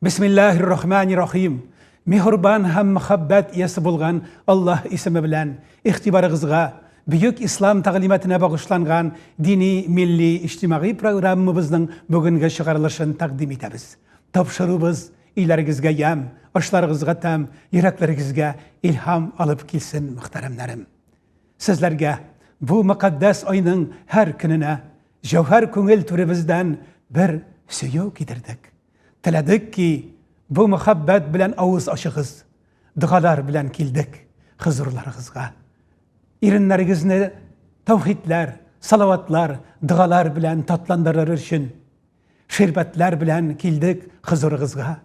Бисмиллахир рахманир рахим. Мехурбан һәм мәхәббәт иясе булган Аллаһ исеме белән игътибарыгызга бөек ислам тәгълиматына багышланган дини, милли, иҗтимагый программабызның бүгенге чыгарылышын тәкъдим итәбез. Тапшырубыз, өйләрегезгә ямь, ашларыгызга тәм, йөрәкләрегезгә илһам алып килсен, мөхтәрәмнәрем. Сезләргә бу мөкатдәс айның һәр көненә Җәүһәр күңел түребездән бер сөю китердек. Теләдек ки, бу мөхәббәт белән авыз ачыгыз. Догалар белән килдек хозурларыгызга. Иреннәрегезне тәүхидләр, салаватлар, догалар белән татландырыр өчен ширбәтләр белән килдек хозурыгызга.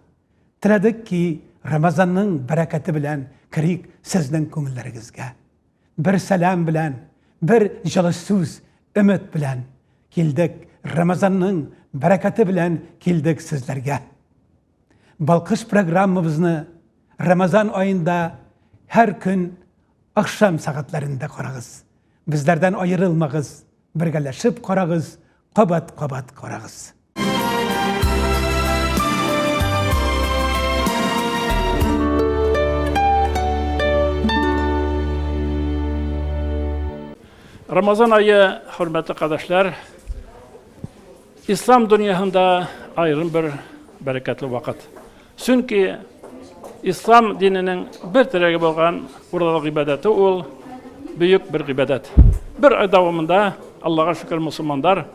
Теләдек ки, Рамазанның бәрәкәте белән керик сезнең күңелләрегезгә. Бер сәлам белән, бер җылы сүз, өмет белән килдек, Рамазанның бәрәкәте белән килдек сезләргә. Балкыш программабызны Рамазан аенда һәр көн ахшам сәгатьләрендә карагыз. Безләрдән аерылмагыз, Бергәләшеп карагыз, кабат-кабат карагыз. Рамазан айы, хөрмәтле кадәшләр, Ислам дөньяһында аерым бер бәрәкәтле вакыт. Чөнки ислам диненең бер терәге булган урлау гыйбадәте ул бөек бер гыйбадәт. Бер ай дәвамында Аллаһка шөкер мусулмандар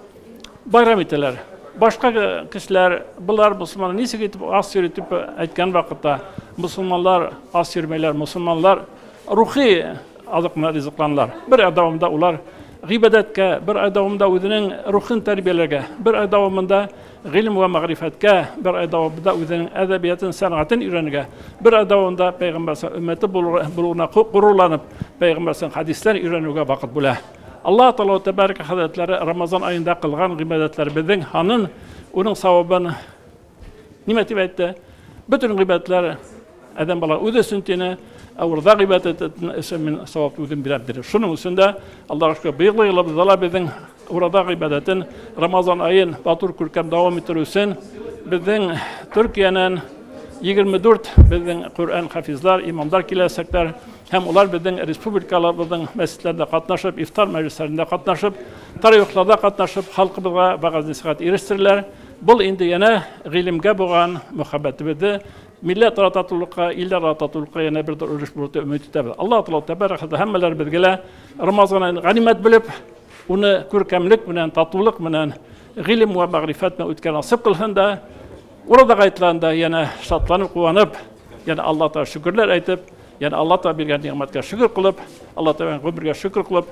байрам итәләр. Башка кешеләр болар мусулманнар ничек итеп ас йөри дип әйткән вакытта мусулманлар ас йөрмәйләр, мусулманлар рухи Азык менән ризыкланалар. Бер ай дәвамында улар гыйбадәткә, бер ай дәвамында үзенең рухын тәрбияләргә, бер ай дәвамында гыйлем вә мәгърифәткә, бер ай дәвамында үзенең әдәбиятын, сәнгатен өйрәнергә, бер ай дәвамында пәйгамбәрсә өммәте булуына горурланып, пәйгамбәрсә хәдисләр өйрәнүгә вакыт бүлә. Аллаһ Тәгалә тәбәрәк хәзрәтләре Рамазан аенда кылган гыйбадәтләребезнең ханын, уның савабын Нимә дип әйтте? Бөтен гыйбадәтләр адәм бала үзе өчен тине, ә урда гыйбадәт итәтен өчен мин савап үзем бирәм диде. Шуның өчен дә Аллаһу шөкер быелгы елыбызда ла безнең урада гыйбадәтен Рамазан аен матур күркәм дәвам иттерү өчен безнең Төркиянән 24 безнең Коръән хафизлар, имамдар киләчәкләр һәм улар безнең республикаларыбызның мәчетләрендә катнашып, ифтар мәҗлесләрендә катнашып, тарихларда катнашып, халкыбызга вәгазь-нәсихәт ирештерерләр. Бул инде янә гыйлемгә булган мөхәббәтебезне милләтара татулыкка, илләрара татулыкка янә бер дор өлеш булыр дип өмет итәбез. Аллаһ Тәгалә тәбәрәк һәм һәммәләребезгә лә Рамазан аен ганимәт белеп, уны күркәмлек белән, татулык белән, гыйлем вә мәгърифәт белән үткәрә насыйп кылсын да, Ураза гайтыларында янә шатланып, куанып, янә Аллаһ Тәгалә шөкерләр әйтеп, янә Аллаһ Тәгалә биргән нигъмәткә шөкер кылып, Аллаһ Тәгалә гомергә шөкер кылып,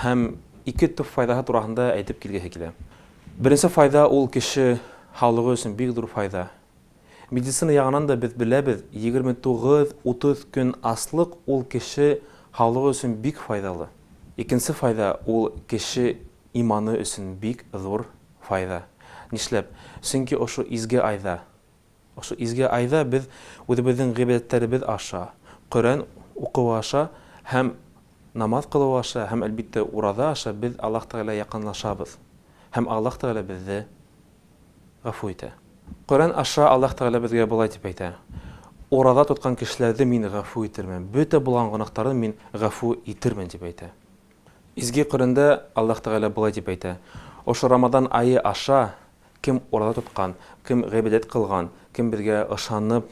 Һәм ике төп файдаһы турагында әйтеп килгеһе килә. Беренче файда ул кеше һаулыгы өчен бик зур файда. Медицина ягынан да без беләбез, 29-30 көн аслык ул кеше һаулыгы өчен бик файдалы. Икенче файда ул кеше иманы өчен бик зур файда. Нишләп? Чөнки ошо изге айда. Шул изге айда без үзебезнең гыйбадәтләребез аша, Коръән укуы аша һәм намаз кылу аша һәм, әлбиттә, ураза аша без Аллаһ Тәгаләгә якынлашабыз һәм Аллаһ Тәгалә безне гафу итә. Коръән аша Аллаһ Тәгалә безгә болай дип әйтә, Ураза тоткан кешеләрне Мин гафу итермен, бөтә булган гөнаһтарын Мин гафу итермен, дип әйтә. Изге Коръәндә Аллаһ Тәгалә болай дип әйтә, Ошо Рамадан ае аша кем ураза тоткан, кем гыйбадәт кылган, кем безгә ышанып,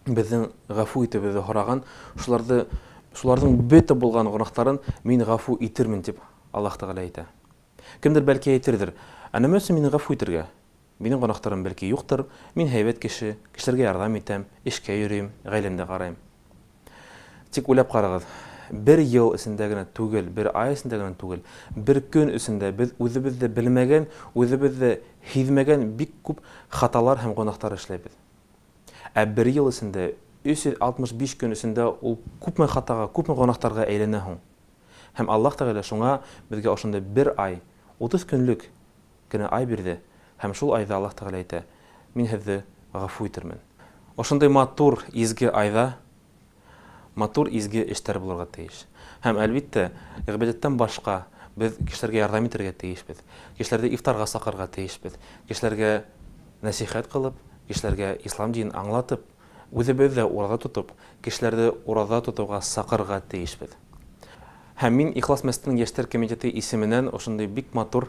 безнең гафу итүебезне һораган, шуларды, шуларның бөтә булган гөнаһтарын Мин гафу итермен, дип Аллаһ Тәгалә әйтә. Кемдер бәлки әйтердер, Ә нәмә өчен мине гафу итергә? Минем гөнаһтарым бәлки юктыр, мин һәйбәт кеше, кешеләргә ярдәм итәм, эшкә йөрим, гаиләмдә карыйм. Тик уйлап карагыз, бер ел эчендә генә түгел, бер ай эчендә генә түгел, бер көн эчендә без үзебез дә белмәгән, үзебез дә һизмәгән бик күп хаталар һәм гөнаһтар эшләйбез. Ә бер ел эчендә, 365 көн эчендә ул күпме хатага, күпме гөнаһтарга әйләнә һуң? Һәм Аллаһ Тәгалә шуңа безгә ошондый бер ай, 30 көнлек Генә ай бирде, һәм шул айда Аллаһ Тәгалә әйтә, Мин һезде гафу итермен. Ошындый матур, изге айда матур, изге эштәр булырга тиеш. Һәм, әлбиттә, гыйбадәттән башка без кешеләргә ярдәм итәргә тиешбез, кешеләрде ифтарга сакырырга тиешбез, кешеләргә нәсыйхәт кылып, кешеләргә ислам динен аңлатып, үзебез дә ураза тотып, кешеләрде ураза тотуга сакырырга тиешбез. Һәм мин Ихлас мәчетенең яшьләр комитеты исеменнән ошындый бик матур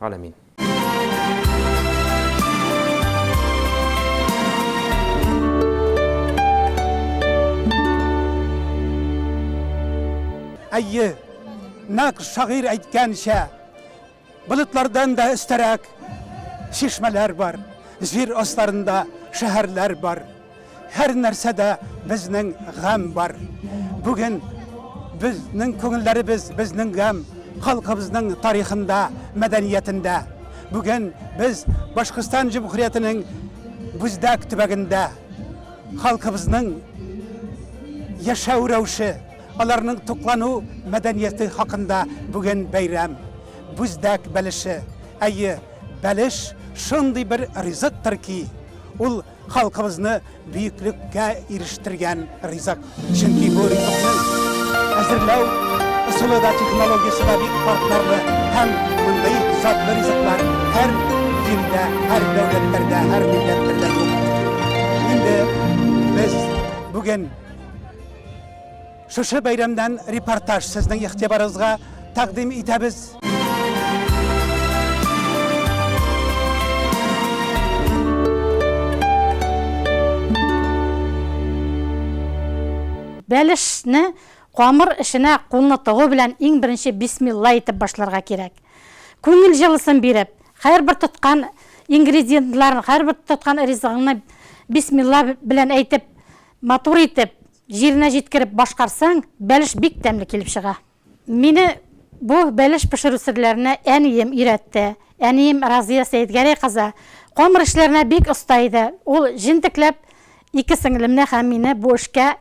Галәмин. Әйе, нәк шагыйрь әйткәнчә, болытлардан да өстәрәк шишмәләр бар, җир астарында шәһәрләр бар. Һәр нәрсәдә безнең гам бар. Бүген безнең күңелләребез безнең гам халкыбызның тарихында, мәдәниятендә. Бүген без Башкортстан Җөмһүриятенең Бүздәк төбәгендә халкыбызның яшәү рәвеше, аларның туклану мәдәнияте хакында бүген бәйрәм. Бүздәк бәлеше. Әйе, бәлеш шундый бер ризыктыр ки, ул Халкыбызны бөеклеккә ирештергән ризык. Чөнки бу ризыкның әзерләү ысулы да, технологиясе дә бик катлаулы һәм мондый затлы ризыклар һәр җирдә, һәр дәүләтләрдә, һәр милләтләрдә юк. Инде без бүген Шушы бәйрәмнән репортаж сезнең игътибарыгызга тәкъдим итәбез. Бәлешне камыр эченә кулны тыгу белән иң беренче бисмилла әйтеп башларга кирәк. Күңел җылысын биреп, һәрбер тоткан ингредиентларын, һәрбер тоткан ризыгыңны бисмилла белән әйтеп, матур итеп, Җиренә җиткереп башкарсаң, бәлеш бик тәмле килеп чыга. Мине бу бәлеш пешерү серләренә әнием өйрәтте. Әнием Разия Сәетгәрәй кызы камыр эшләренә бик оста иде. Ул җентекләп ике сеңлемне һәм мине бу эшкә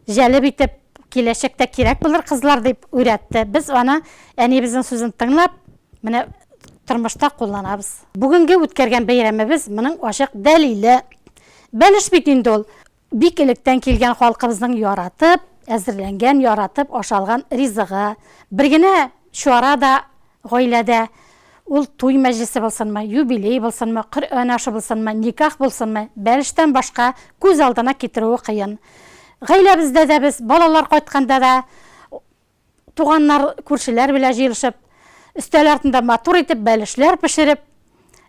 җәлеп итеп, киләчәктә кирәк булыр кызлар дип уйрәтте. Без аны, әниебезнең сүзен тыңлап, менә тормышта кулланабыз. Бүгенге үткәргән бәйрәмебез моның ачык дәлиле. Бәлеш бит инде ул. Бик электән килгән халкыбызның яратып әзерләнгән, яратып ашалган ризыгы. Бер генә чара да гаиләдә, ул туй мәҗлесе булсынмы, юбилей булсынмы, Коръән ашы булсынмы, никах булсынмы, бәлештән башка күз алдына китерүе кыен. Гаиләбездә дә без, балалар кайтканда да, Туганнар, күршеләр белән җыелышып, өстәл артында матур итеп бәлешләр пешереп,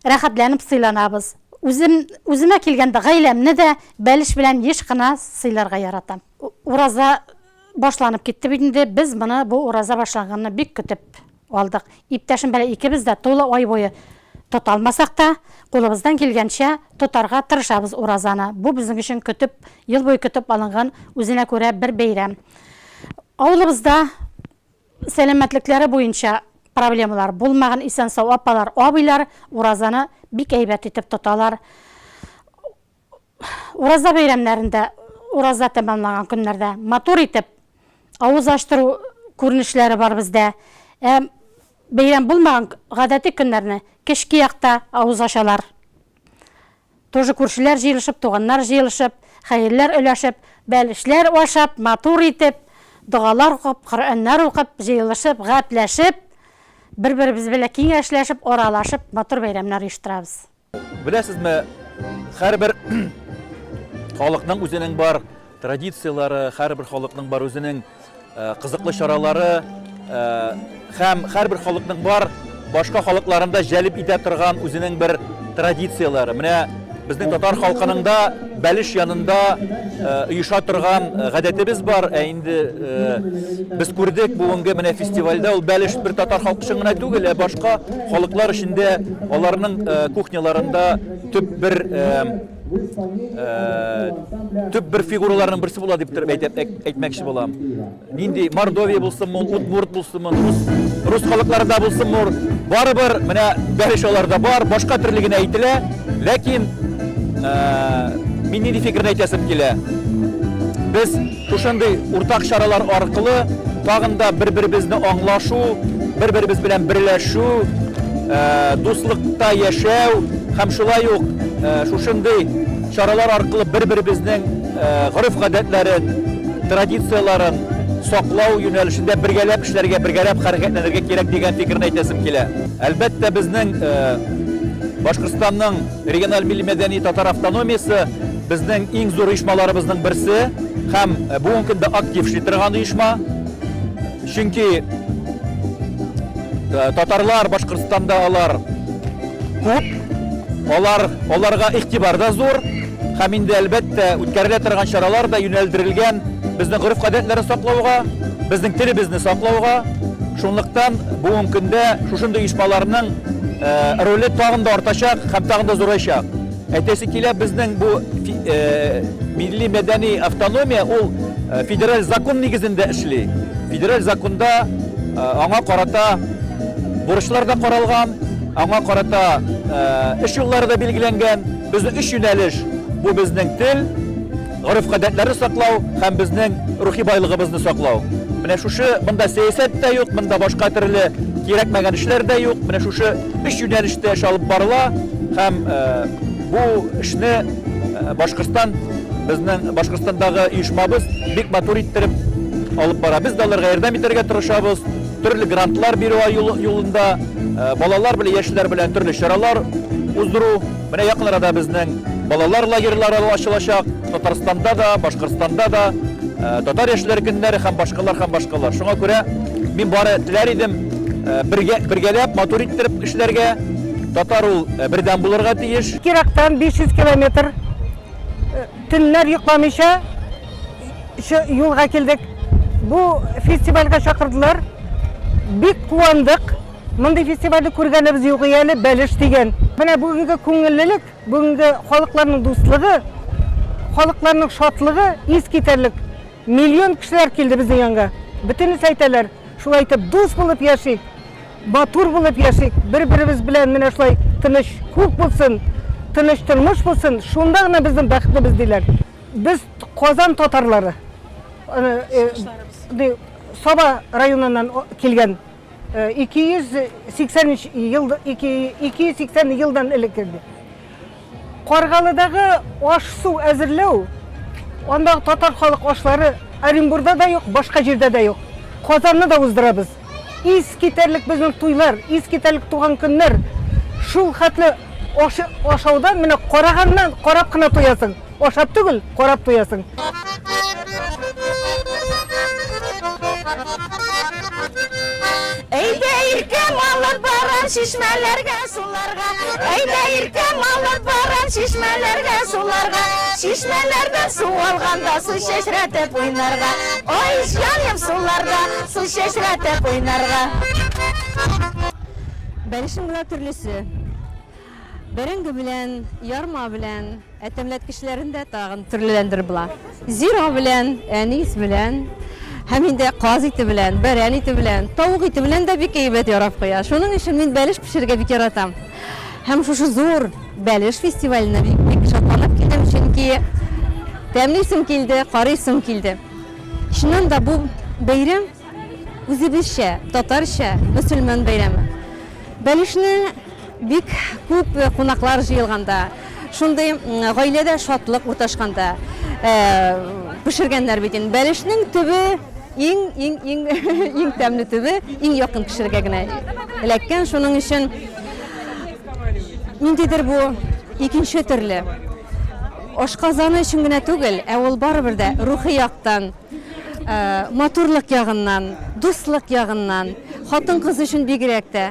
рәхәтләнеп сыйланабыз. Үзем, үземә килгәндә, гаиләмне дә бәлеш белән еш кына сыйларга яратам. Ураза башланып китте бит инде, без моны, бу ураза башланганны бик көтеп. Алдык. Иптәшем белән икебез дә тулы ай буе тота алмасак та, кулыбыздан килгәнчә тотарга тырышабыз уразаны. Бу безнең өчен көтеп, ел буе көтеп алынган үзенә күрә бер бәйрәм. Авылыбызда сәламәтлекләре буенча проблемалар булмаган исән-сау апалар, абыйлар уразаны бик әйбәт итеп тоталар. Ураза бәйрәмнәрендә, ураза тәмамланган көннәрдә матур итеп авыз ачтыру күренешләре бар бездә. Ә бәйрәм булмаган гадәти көннәрне кечке якта авыз ачалар. Тоже күршеләр җыелышып, туганнар җыелышып, хәерләр өләшеп, бәлешләр ашап, матур итеп, догалар укып, Коръәннәр укып, җыелышып, гәпләшеп, бер-беребез белән киңәшләшеп, аралашып, матур бәйрәмнәр оештырабыз. Беләсезме, һәрбер халыкның үзенең бар традицияләре, һәрбер халыкның бар үзенең э, кызыклы чаралары э, һәм һәрбер халыкның бар башка халыкларында җәлеп итә торган үзенең бер традицияләре. Менә безнең татар халкының да Бәлеш янында оеша торган гадәтебез бар, ә инде без күрдек бүгенге менә фестивальдә ул бәлеш бер татар халкы өчен генә түгел, ә башка халыклар өчен дә аларның кухняларында төп бер төп бер фигураларның берсе була дип әйтеп әйтмәкче булам. Нинди Мордовия булсынмы, Удмурт булсынмы, рус, рус халыкларында булсынмы, барыбер менә бәлеш аларда бар, башка төрле генә әйтелә, ләкин ә, мин нинди фикерне әйтәсем килә. Без шушындый уртак чаралар аркылы тагын да бер-беребезне аңлашу, бер-беребез белән берләшү, ә, дуслыкта яшәү һәм шулай ук ә, шушындый чаралар аркылы бер-беребезнең гореф-гадәтләрен, традицияләрен саклау юнәлешендә бергәләп эшләргә, бергәләп хәрәкәтләнергә кирәк дигән фикерне әйтәсем килә. Әлбәттә, безнең Башкортстанның региональ милли-мәдәни татар автономиясе безнең иң зур оешмаларыбызның берсе һәм бүгенге көндә актив эшли торган оешма. Чөнки татарлар Башкортстанда алар күп, алар, аларга игътибар да зур. Һәм инде, әлбәттә, үткәрелә торган чаралар да юнәлдерелгән безнең гореф-гадәтләрне саклауга, безнең телебезне саклауга. Шунлыктан бүгенге көндә шушындый оешмаларның роле тагын да артачак һәм тагын да зурайчак. Әйтәсе килә, безнең бу милли мәдәни автономия ул федераль закон нигезендә эшли. Федераль законда аңа карата бурычлар да каралган, аңа карата эш юллары да билгеләнгән. Безнең өч юнәлеш, бу безнең тел, гореф-гадәтләрне саклау һәм безнең рухи байлыгыбызны саклау. Менә шушы монда сәясәт тә юк, монда башка төрле кирәкмәгән эшләр дә юк. Менә шушы өч юнәлештә эш алып барыла һәм бу эшне Башкортстан безнең Башкортстандагы оешмабыз бик матур иттереп алып бара. Без дә аларга ярдәм итәргә тырышабыз. Төрле грантлар бирү юлында балалар белән яшьләр белән төрле чаралар уздыру. Менә якын арада безнең балалар лагерьлары ачылачак. Татарстанда да, Башкортстанда да татар яшьләр көннәре һәм башкалар һәм башкалар. Шуңа күрә мин бары теләр идем бергә бергәләп матур иттереп эшләргә. Татар ул бердәм булырга тиеш. Кирактан 500 километр төннәр йокламыйча Шу юлга килдек. Бу фестивальгә чакырдылар. Бик куандык. Мондый фестивальне күргәнебез юк әле, бәлеш дигән. Менә бүгенге күңеллелек, бүгенге халыкларның дуслыгы, халыкларның шатлыгы ис китәрлек. Миллион кешеләр килде безнең янга. Бөтенесе әйтәләр, шулай итеп дус булып яшик, матур булып яшик, бер-беребез белән менә шулай тыныч күк булсын, тыныч тормыш булсын, шунда гына безнең бәхетебез диләр. Без Казан татарлары. Э, Саба районыннан килгән 283 э, ел 280 елдан элек инде. Каргалыдагы аш-су әзерләү андагы татар халык ашлары Оренбурда да юк, башка җирдә дә юк. Казанны да уздырабыз. Ис китәрлек безнең туйлар, ис китәрлек туган көннәр. Шул хәтле ашаудан менә караганнан карап кына туясың. Ашап түгел, карап туясың. Әйдә иркәм алып барам чишмәләргә суларга. Әйдә иркәм алып барам чишмәләргә суларга. Чишмәләрдән су алганда су чәчрәтеп уйнарга. Ой, җаным суларда. Сез чәчрәтеп уйнарга. Бәлешең була төрлесе. Бәрәңге белән, ярма белән, ә тәмләткечләрен дә тагын төрлеләндер була. Зира белән, әнис белән, һәм инде каз ите белән, бәрән ите белән, тавык ите белән дә бик әйбәт ярап куя. Шуның өчен мин бәлеш пешерергә бик яратам. Һәм шушы зур бәлеш фестиваленә бик шатланып килдем, чөнки тәмлисем килде, карыйсым килде. Чыннан да бу бәйрәм үзебезчә, татарча, мөселман бәйрәме. Бәлешне бик күп кунаклар җыелганда, шундый гаиләдә шатлык урташканда пешергәннәр бит инде. Бәлешнең төбе иң иң иң иң тәмле төбе иң якын кешегә генә эләккән. Шуның өчен ниндидер бу икенче төрле. Ашказаны өчен генә түгел, ә ул барыбер дә рухи яктан, матурлык ягыннан, дуслык ягыннан, хатын-кыз өчен бигрәк тә,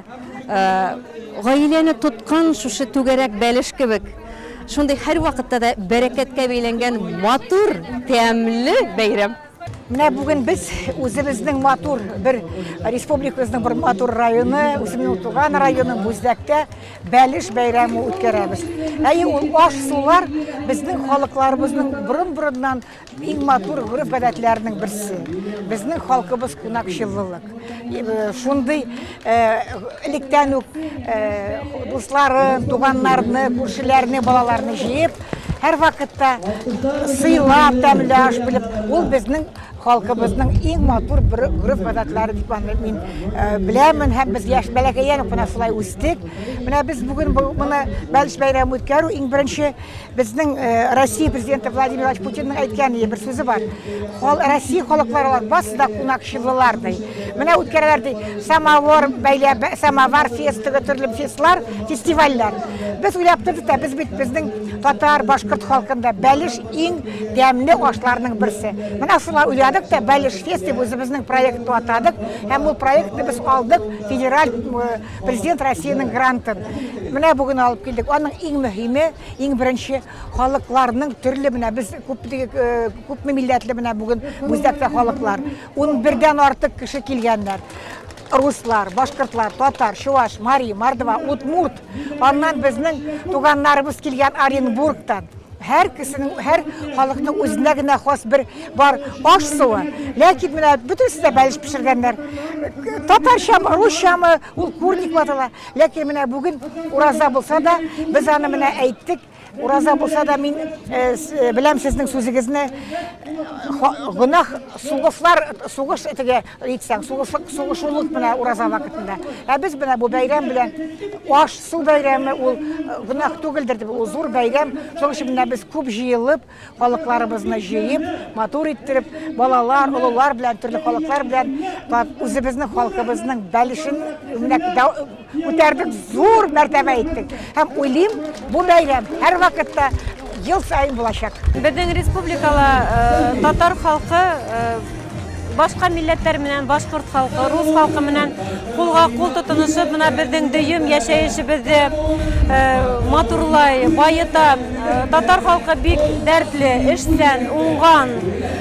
гаиләне тоткан шушы түгәрәк бәлеш кебек, шундый һәрвакытта да бәрәкәткә бәйләнгән матур, тәмле бәйрәм. Менә бүген без үзебезнең матур бер республикабызның бер матур районы, үземнең туган районым Бүздәктә бәлеш бәйрәме үткәрәбез. Әйе, ул аш сулар безнең халыкларыбызның борын-борыннан иң матур гореф-гадәтләренең берсе. Безнең халкыбыз кунакчыллылык. Э, шундый Электән үк дусларын, туганнарны, күршеләрне, балаларны җыеп, һәр вакытта сыйлап, тәмле аш белеп, ул безнең халкыбызның иң матур бер гөреф гадәтләре дип аны мин э, беләмен һәм без яшь бәләкәйдән үк менә шулай үстек менә без бүген моны бәлеш бәйрәмен үткәрү иң беренче Безнең э, Россия президенты Владимир Владимирович Путинның әйткән бер сүзе бар. Хол, Россия халыклары алар басы да кунакчылылар ди. Менә үткәрәләр ди. Самовар бәйлә самовар фестивы төрле фестлар, фестивальләр. Без уйлап тордык та без бит безнең татар, башкорт халкында бәлеш иң дәмле ашларның берсе. Менә шулай уйладык та бәлеш фест дип үзебезнең проектны атадык. Һәм ул проектны без алдык федераль э, Президент Россиянең грантын менә бүген алып килдек. Аның иң мөһиме, иң беренче халыкларның төрле менә без күп күпме милләтле менә бүген үзәктә халыклар. 11дән артык кеше килгәннәр. Руслар, башкортлар, татар, чуваш, мари, мордва, удмурт. Аннан безнең туганнарыбыз килгән Оренбургтан. Һәр кешенең, һәр халыкның үзенә генә хас бер бар аш суы. Ләкин менә бөтенесе дә бәлеш пешергәннәр. Татарчамы, русчамы, ул курник ватыла. Ләкин менә бүген ураза булса да, без аны менә әйттек. Ураза булса да мин э, э, беләм сезнең сүзегезне. Гөнаһ сугышлар, сугыш теге Әйтсәң, сугышлык, сугышулык менә ураза вакытында. Ә без менә бу бәйрәм белән аш, су бәйрәме ул э, гөнаһ түгелдер дип, ул зур бәйрәм. Шуның өчен менә без күп җыелып, халыкларыбызны җыеп, матур иттереп, балалар, олылар белән, төрле халыклар белән үзебезнең халкыбызның бәлешен менә Үтәрдек зур мәртәбә иттек. Һәм уйлыйм, бу бәйрәм һәр вакытта ел сайын булачак. Безнең республикала э, татар халкы э, башка милләтләр менән башкорт халкы, рус халкы менән кулга кул тотынышып, менә безнең дөем яшәешебезне э, матурлай, баета. Татар халкы бик дәртле, эшчән, уңган.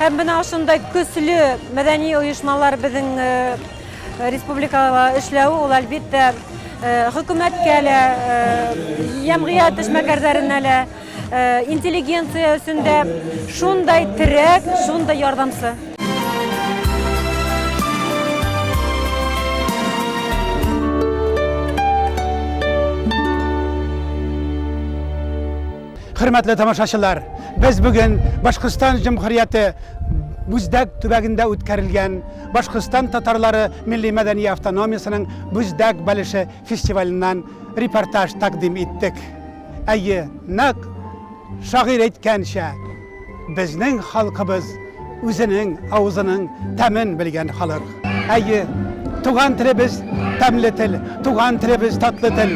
Һәм менә шундай көчле мәдәни оешмалар безнең э, республикага эшләве ул әлбәттә э, хөкүмәткә лә, җәмгыять э, эшмәкәрләренә лә, интеллигенция өчен дә шундай терәк, шундай ярдәмче. Хөрмәтле тамашачылар, без бүген Башкортстан Җөмһүрияте Бүздәк төбәгендә үткәрелгән Башкортстан татарлары милли мәдәни автономиясенең Бүздәк бәлеше фестиваленнан репортаж тәкъдим иттек. Әйе, нәкъ шагыйрь әйткәнчә, Безнең халкыбыз үзенең авызының тәмен белгән халык. Әйе, туган телебез тәмле тел, туган телебез татлы тел.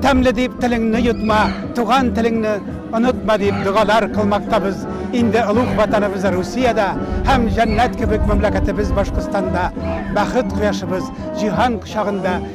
Тәмле дип телеңне йотма, туган телеңне онытма дип догалар кылмактабыз. Инде олуг ватаныбыз Русиядә һәм җәннәт кебек мәмләкәтебез Башкортстанда бәхет кояшыбыз җиһан кочагында